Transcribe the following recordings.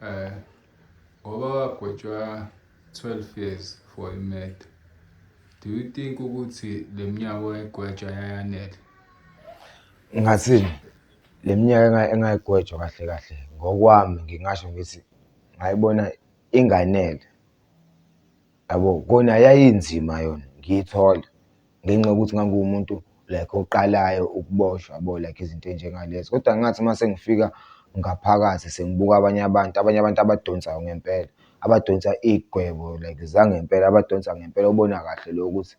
Eh ngoba wagwetshwa 12 years for imed. Do you think ukuthi leminyaka oyigwetshwa yayanele? Ngathini? Leminyaka engayigwetshwa kahle kahle ngokwami ngingasho ngithi ngayibona inganele. Yabo, kona yayinzima yona ngiyithola ngenxa yokuthi ngangiwumuntu like oqalayo ukuboshwa yabo, like izinto ey'njengalezo. Kodwa ngathi uma sengifika ngaphakathi sengibuka abanye abantu, abanye abantu abadonsayo ngempela, abadonsa iy'gwebo like zangempela, abadonsa ngempela obona kahle le yokuthi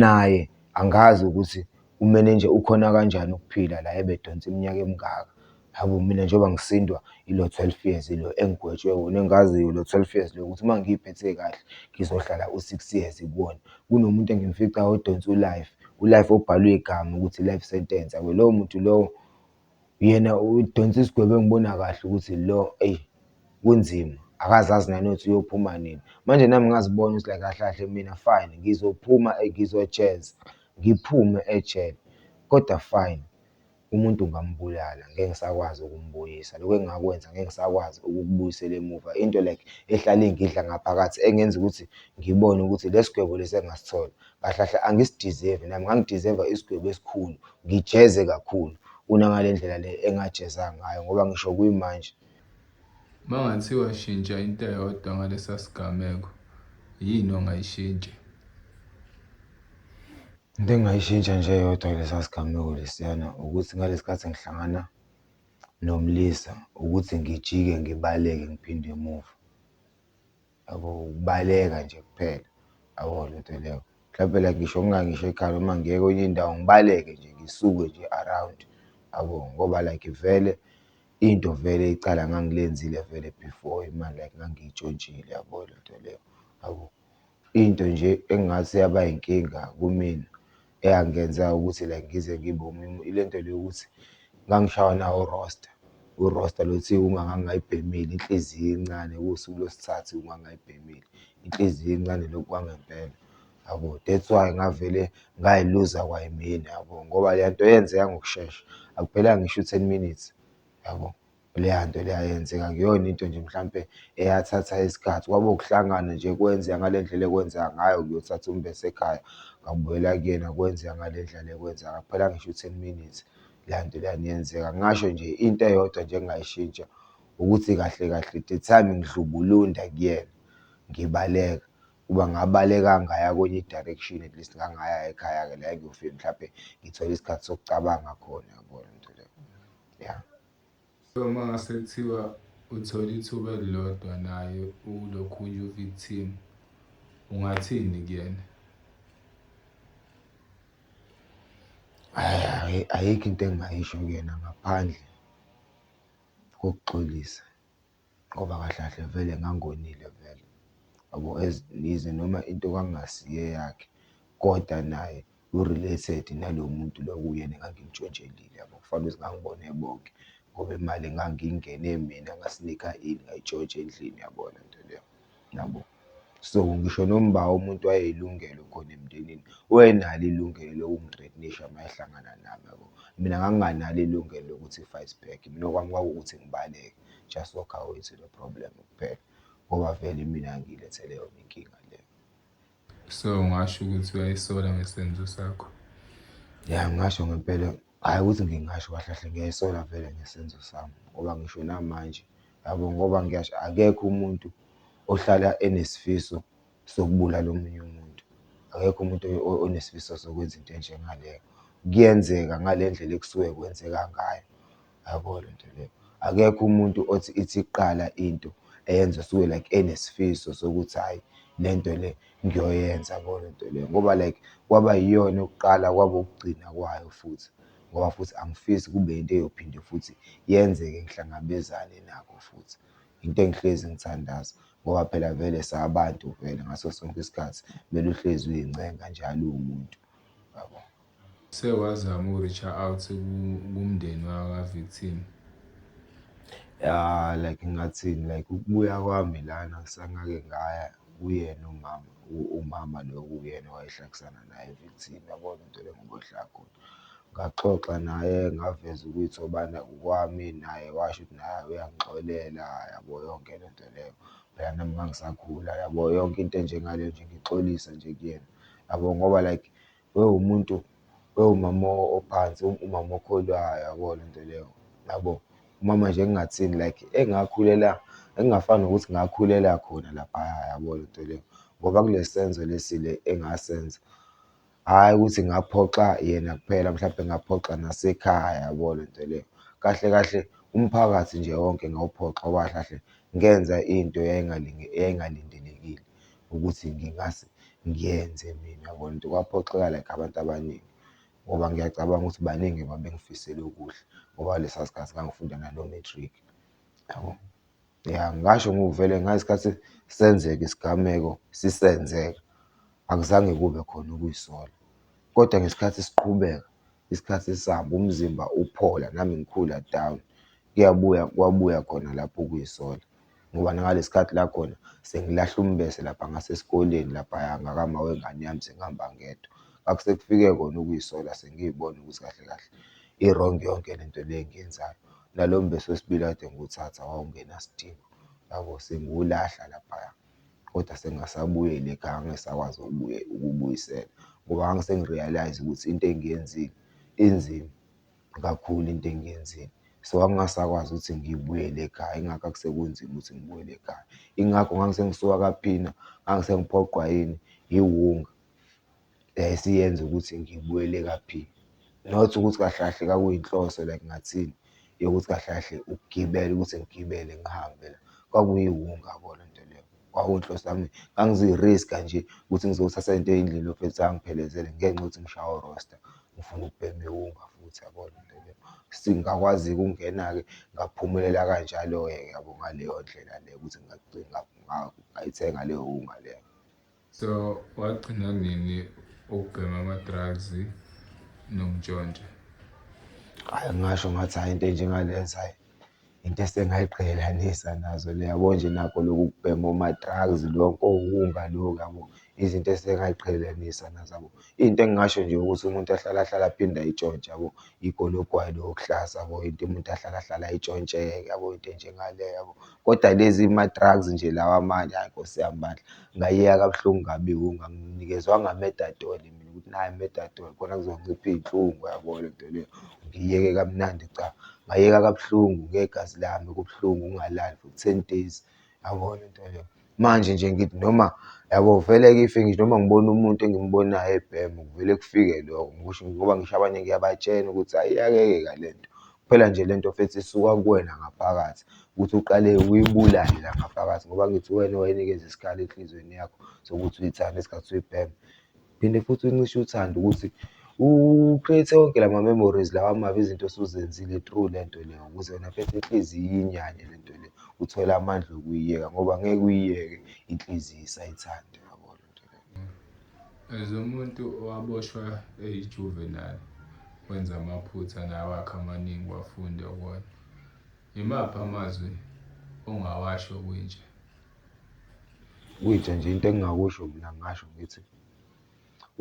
naye angazi ukuthi kumele nje ukhona kanjani ukuphila la ebedonsa iminyaka emingaka. Hhayi bo mina njengoba ngisindwa ilo twelve years lo engigwetshwe wona engaziyo lo twelve years lo ukuthi uma ngiy'phethe kahle ngizohlala u-six years kuwona. Kunomuntu engimficayo odonse u-life, u-life obhalwe igama ukuthi life sentence. Awu lowo muntu lowo yena udonse isigwebo engibona kahle ukuthi lo eyi kunzima akaze azi nanokuthi uyophuma nini. Manje nami ngazibona ukuthi like kahle kahle mina fine ngizophuma ngizojeza ngiphume ejele kodwa fine. Umuntu ngambulala ngeke ngisakwazi ukumbuyisa lokhu engakwenza ngeke ngisakwazi ukukubuyisela emuva into like ehlale ingidla ngaphakathi engenza ukuthi ngibone ukuthi lesigwebo lesi engasithola kahle kahle angisi-deserve nami ngangi-deserve-a isigwebo esikhulu ngijeze kakhulu kunangalendlela le engajeza ngayo ngoba ngisho kuyimanje Mangathiwa shintsha into eyodwa ngalesa sigameko, yini ongayishintsha? Into engingayishintsha nje eyodwa kulesa sigameko lesiyana ukuthi ngalesi khathi ngihlangana nomlisa ukuthi ngijike ngibaleke ngiphinde emuva. Yabo ukubaleka nje kuphela. Yabo le nto leyo. Mhlampe like ngisho ngingangisho ekhaya noma ngiye kwenye indawo ngibaleke nje ngisuke nje around. Yabo ngoba like vele into vele icala ngangilenzile vele before imali like ngangiyitshontshile yabo le nto leyo. Yabo into nje engathi yaba inkinga kumina eyangenza ukuthi like ngize ngibe umemu ilento le yokuthi ngangishawa nawo urosta, urosta lo othi uma ngangayibhemile inhliziyo incane kuwusuku lwesithathu uma ngayibhemile, inhliziyo incane lokhu kwangempela yabo. That's why ngavele ngayiluza kwayimina yabo, ngoba lento yenzeka ngokushesha akuphelanga ngisho u-ten minutes yabo. Leya nto leya yenzeka akuyona into nje mhlampe eyathatha isikhathi, kwaba ukuhlangana nje kwenzeka ngale ndlela ekwenzeka ngayo kuyothatha umbese ekhaya ngabuyela kuyena kwenzeka ngale ndlela ekwenzeka ngayo. Akuphelanga ngisho u-ten minutes leya nto leyana yenzeka. Ngingasho nje into eyodwa nje engingayishintsha ukuthi kahle kahle the time ngidlubulunda kuyena ngibaleka kuba ngabaleka ngaya kwenye i-direction at least ngangaya ekhaya-ke la engiyofike mhlampe ngithole isikhathi sokucabanga khona, yabona into leyo ya. So uma ngase kuthiwa uthola ithuba elilodwa naye ulokhunye uvictim ungathini kuyena hayi ayikho into engingayisho kuyena ngaphandle kokuxolisa Ngoba kahle kahle vele ngangonile vele yabo as yize noma into kwakungasiyo eyakhe koda naye u-related nalo muntu lo okuyena engangimntshontshelile yabo. Kufanele ukuthi ngangibone bonke ngoba imali ngangiyingene mina ngasinika ini, ngayitshontsha endlini yabo lento leyo. Yabo? So, ngisho nomba umuntu wayeyilungelo khona emndenini, wayenalo ilungelo lokungi-threaten-isha uma ehlangana nami, yabo? Mina nganginganalo ilungelo lokuthi ngi-fight back, mina okwami kwakuwukuthi ngibaleke, just walk away to the problem kuphela, ngoba vele imina engiyilethele yona inkinga le. So, ungasho ukuthi uyayisola ngesenzo sakho? Ya, ngingasho ngempela. Hhayi ukuthi ngingasho kahle kahle ngiyayisola vele ngesenzo sami ngoba ngisho namanje yabo ngoba ngiyasho akekho umuntu ohlala enesifiso sokubulala omunye umuntu, akekho umuntu onesifiso sokwenza into enjengaleyo. Kuyenzeka ngale ndlela ekusuke kwenzeka ngayo, yabo le nto le. Akekho umuntu othi ithi kuqala into eyenza usuke like enesifiso sokuthi hhayi le nto le ngiyoyenza yabo lento le ngoba like kwaba yiyona yokuqala kwaba ukugcina kwayo futhi ngoba futhi angifisi kube into eyophinde futhi yenzeke ngihlangabezane nakho futhi. Into engihlezi ngithandaza ngoba phela vele sabantu vele ngaso sonke isikhathi, kumele uhlezi uyincenga njalo uwumuntu yabo. Sewazama uku-reach out kumndeni waka-victim? Ya like ngathini like ukubuya kwami lana kusangake ngaya kuyena umama umama lo kuyena owayehlekisana naye victim yabona into lengiboshaya khona. Ngaxoxa naye ngaveza ukuthi obana ukwami naye washo ukuthi naye uyangixolela yabo yonke le nto leyo. Phela nami ngangisakhula yabo yonke into enjengale nje ngixolisa nje kuyena yabo ngoba like. wewumuntu wewumama ophansi umama okholwayo yabo le nto leyo yabo. Umama nje engingathini like engakhulela engingafani nokuthi ngakhulela khona laphaya yabo le nto leyo ngoba kule senzo lesi le engasenza. Hhayi ukuthi ngaphoxa yena kuphela mhlampe ngaphoxa nasekhaya yabo le nto leyo. Kahle kahle umphakathi nje wonke ngawuphoxa ngoba kahle kahle ngenza into yayingalindelekile. ukuthi ngingase ngiyenze mina yabo. And kwaphoxeka like abantu abaningi ngoba ngiyacabanga ukuthi baningi babengifisela okuhle ngoba lesa sikhathi ngangifunda nalo matric yabo. Ya ngasho ngivele ngesikhathi senzeka isigameko sisenzeka akuzange kube khona ukuzisola, kodwa ngesikhathi siqhubeka isikhathi sabo umzimba uphola nami ngikhula down kuyabuya kwabuya khona lapho ukuyisola ngoba nangalesi sikhathi la khona sengilahle umbese lapha ngasesikoleni laphaya ngakama wengane yami sengihamba ngedwa akusekufike kona ukuyisola sengiyibona ukuthi kahle kahle i-wrong yonke le nto le engiyenzayo. Nalo mbese wesibili kade ngiwuthatha wawungenasidingo yabo sengiwulahla laphaya. kodwa sengasabuyela ekhaya angisakwazi ukubuyisela ngoba ngangisengi-realise ukuthi into engiyenzile inzima kakhulu into engiyenzile. So, angingasakwazi ukuthi ngibuyele ekhaya ingakho sekunzima ukuthi ngibuyele ekhaya. Ingakho ngangisengisuka kaphina, ngangisengiphoqwa yini, yiwunga. le esiyenza ukuthi ngibuyele kaphini. Not ukuthi kahle kahle kwakuyinhloso like ngathini yokuthi kahle kahle ukugibela ukuthi ngigibele ngihambe la. Kwakuyiwunga kona into leyo, kwakuyinhloso yami. Ngangizoyi-risk-a nje ukuthi ngizothatha into eyindlini yophetha ukuthi angiphelezele ngenxa yokuthi ngishawe urosta, ngifuna ukubhema iwunga futhi yabona into leyo. Ngakwazi-ke ukungena-ke ngaphumelela kanjalo-ke yabo ngaleyo ndlela leyo ukuthi ngayithenga leyo wunga leyo. so wagcina nini ukubhema ama-drugs nokuntshontsha hayi ngasho ngathi hayi into enjengalenza hayi into esengayiqhelelanisa nazo le yabo nje nakho loku kubhema oma-drugs lokho ukunga lokhu yabo izinto esengayiqhelelanisa nazo yabo Into engingasho nje ukuthi umuntu ahlale ahlale aphinde ayitshontshe yabo, igolo ogwayi lo okuhlaza yabo, into umuntu ahlale ahlale ayitshontshe yabo, into enjengaleyo yabo. Kodwa lezi ma-drugs nje lawa amanye hhayi Nkosi yami bandla, ngayeka kabuhlungu kabi ngoba anginikezwanga methadone mina ukuthi nayi methadone khona kuzoncipha iy'nhlungu yabo le nto le, ngiyeke kamnandi cha. Ngayeka kabuhlungu ngegazi lami kubuhlungu ukungalali for ten days yabo le nto le. Manje nje ngithi noma yabo vele ngife ngisho noma ngibona umuntu engimbonayo ebhema kuvele kufike lokho ngikusho ngoba ngisho abanye ngiyabatshena ukuthi ayi iyayeka le nto. Kuphela nje le nto mfethu isuka kuwena ngaphakathi ukuthi uqale uyibulale la ngaphakathi ngoba angithi uwena owayinikeza isikali enhlizweni yakho sokuthi uyithande ngesikhathi uyibhema. Phinde futhi uncishe uthando ukuthi u-create-e wonke la ma-memories lawa amabi, izinto osuzenzile through le nto le ukuze wena phethe inhliziyo iyinyanye le nto le, uthole amandla okuyiyeka ngoba ngeke uyiyeke inhliziyo isayithanda. As umuntu owaboshwa eyi-juvenile wenza amaphutha naye wakhe amaningi wafunda kuwona, imaphi amazwi ongawasho kwintsha? Kuyinja nje into engingakusho mina ngingasho ngithi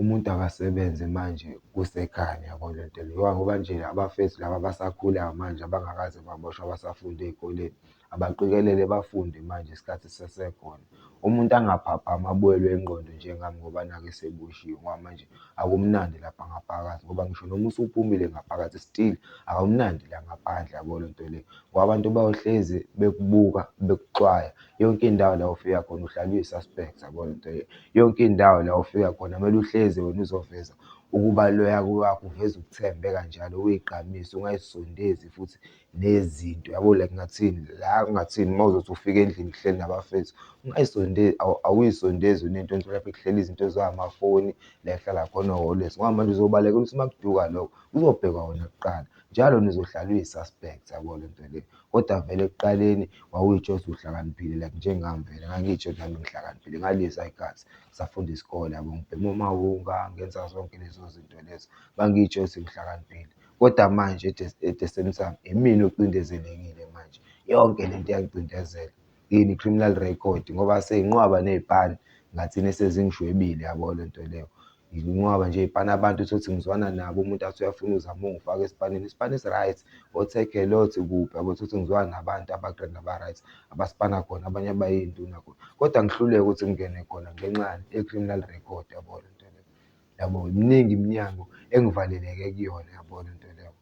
umuntu akasebenze manje kusekhanya yabo le nto le ngoba nje abafethu laba abasakhulayo manje abangakaze baboshwe abasafunda ey'koleni abaqikelele bafunde manje isikhathi sisasekhona. Umuntu angaphaphami abuwelwe ingqondo njengami ngoba nakhu eseboshiwe ngoba manje akumnandi lapha ngaphakathi ngoba ngisho noma usuphumile ngaphakathi still akumnandi la ngaphandle yabo le nto le. Ngoba abantu bayohlezi bekubuka bekuxwaya yonke indawo la ofika khona uhlala uyi-suspect yabona into le. Yonke indawo la ofika khona kumele uhlezi wena uzoveza ukubaluleka kwakho uveze ukuthembeka njalo uyigqamise ungayisondezi futhi nezinto yabo like ngathini la kungathini mawuzothi ufika endlini kuhleli nabafethu ungayisondezi awuyisondezi wena into nje lapho kuhleli izinto ezingamafoni la ekuhlala khona ngoba manje uzobalekela ukuthi makuduka lokho kuzobhekwa wena kuqala. Njalo nizohlala uyi suspect yabo lento le. Kodwa vele ekuqaleni wawuyitsho ukuthi uhlakaniphile like njengami vele ngangiyitsho ukuthi nami ngihlakaniphile ngaliyizwa igazi ngisafunda isikole yabo ngibhema omawunga ngenza zonke lezo zinto lezo ngangiyitsho ukuthi ngihlakaniphile. Kodwa manje at the same time imina ocindezelekile manje yonke lento iyangicindezela yini criminal record ngoba seyinqwaba ney'pani ngathini esezingishwebile yabo lento leyo. Ngikunqwaba nje ipani abantu utholukuthi ngizwana nabo umuntu athi uyafuna uzama ungifaka esipanini isipani esi-right othekhe lo othi kuphi yabo utholukuthi ngizwana nabantu aba-grand aba-right abasipana khona abanye abayiy'nduna khona kodwa ngihluleke ukuthi ngingene khona ngenxa yani ye-criminal record yabo le nto leyo yabo. Miningi iminyango engivaleleke kuyona yabo le nto leyo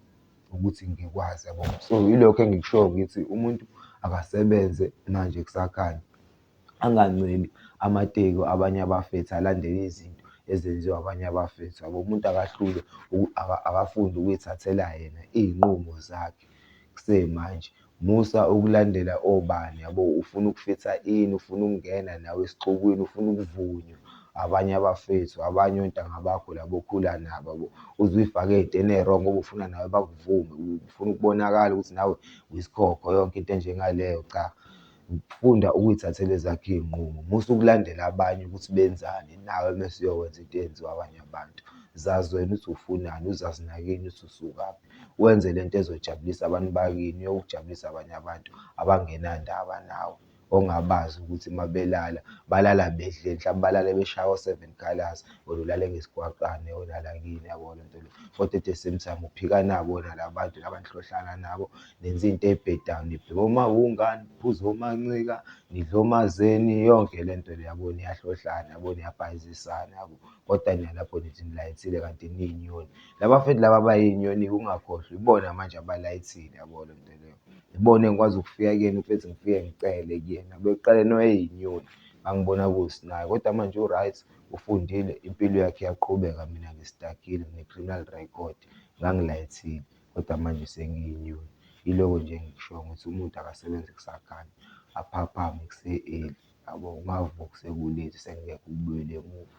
ukuthi ngikwazi yabo. So, yilokho engikushoyo ngithi umuntu akasebenze manje kusakhanya anganceli amateki abanye abafethu alandele izinto ezenziwa abanye abafethu yabo. Umuntu akahlulwe akafunde ukuy'thathela yena iy'nqumo zakhe kusemanje. Musa ukulandela obani yabo, ufuna ukufitha ini, ufuna ukungena nawe esixukwini, ufuna ukuvunywa abanye abafethu, abanye ontanga bakho laba okhula nabo yabo. Uze uy'fake ey'ntweni eyi-wrong ngoba ufuna nawe bakuvume, ufuna ukubonakala ukuthi nawe uyisikhokho yonke into enjengaleyo cha. Funda ukuy'thathela ezakho iy'nqumo, musa ukulandela abanye ukuthi benzani, nawe mese uyokwenza into eyenziwa abanye abantu. Zazi wena ukuthi ufunani, uzazi nakini ukuthi usukaphi, wenze lento ezojabulisa abantu bakini, uyokujabulisa abanye abantu abangenandaba nawe, ongabazi ukuthi uma belala, balala bedleni, mhlawumbe balale beshaya o-seven colours, wena ulale ngesigwaqane wena la kini, yabo lento le. Kodwa at the same time uphika nabo wena la bantu laba enihlohlala nabo. nenza into ebhedayo nibheke omawungani phuza omancika nidla omazeni yonke le nto le yabo niyahlohlana yabo niyabhayizisana yabo kodwa niyalapho nithi nilayithile kanti niyinyoni laba futhi laba bayinyoni ungakhohlwa ibona manje abalayithile yabo le nto leyo ibona engikwazi ukufika kuyena ubethi ngifike ngicele kuyena bekuqale noyeyinyoni angibona kuwusinayo kodwa manje u-right ufundile impilo yakhe iyaqhubeka mina ngistakile ne-criminal record ngangilayithile kodwa manje senginyuke. Iloko nje engikushoyo ukuthi umuntu akasebenze kusakanya, aphaphame kuse-early yabo, ungavuki seku-late sekungekho ukubuyela emuva.